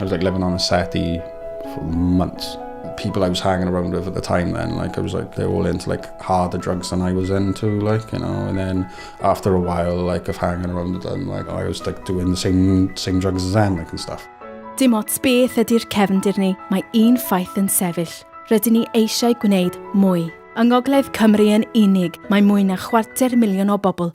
I was like living on a settee for months. The people I was hanging around with at the time then, like I was like, they're all into like harder drugs than I was into, like, you know, and then after a while, like, of hanging around with them, like, I was like doing the same, same drugs as them, like, and stuff. Dim ots beth ydy'r cefndir ni, mae un ffaith yn sefyll. Rydyn ni eisiau gwneud mwy. Yng Ngogledd Cymru yn unig, mae mwy na chwarter miliwn o bobl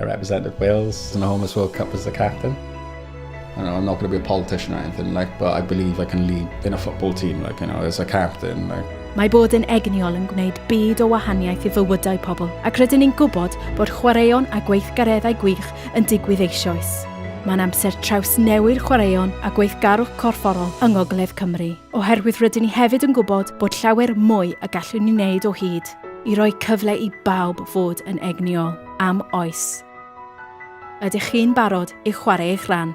I represented Wales in the Homeless World Cup as the captain. I know, I'm not going to be a politician or anything, like, but I believe I can lead in a football team, like, you know, as a captain. Like. Mae bod yn egniol yn gwneud byd o wahaniaeth i fywydau pobl, ac rydyn ni'n gwybod bod chwaraeon a gweithgareddau gwych yn digwydd eisioes. Mae'n amser traws newy'r chwaraeon a gweithgarwch corfforol yng Ngogledd Cymru, oherwydd rydyn ni hefyd yn gwybod bod llawer mwy y gallwn ni wneud o hyd i roi cyfle i bawb fod yn egniol. am oes. Ydych chi'n barod i chwarae eich rhan?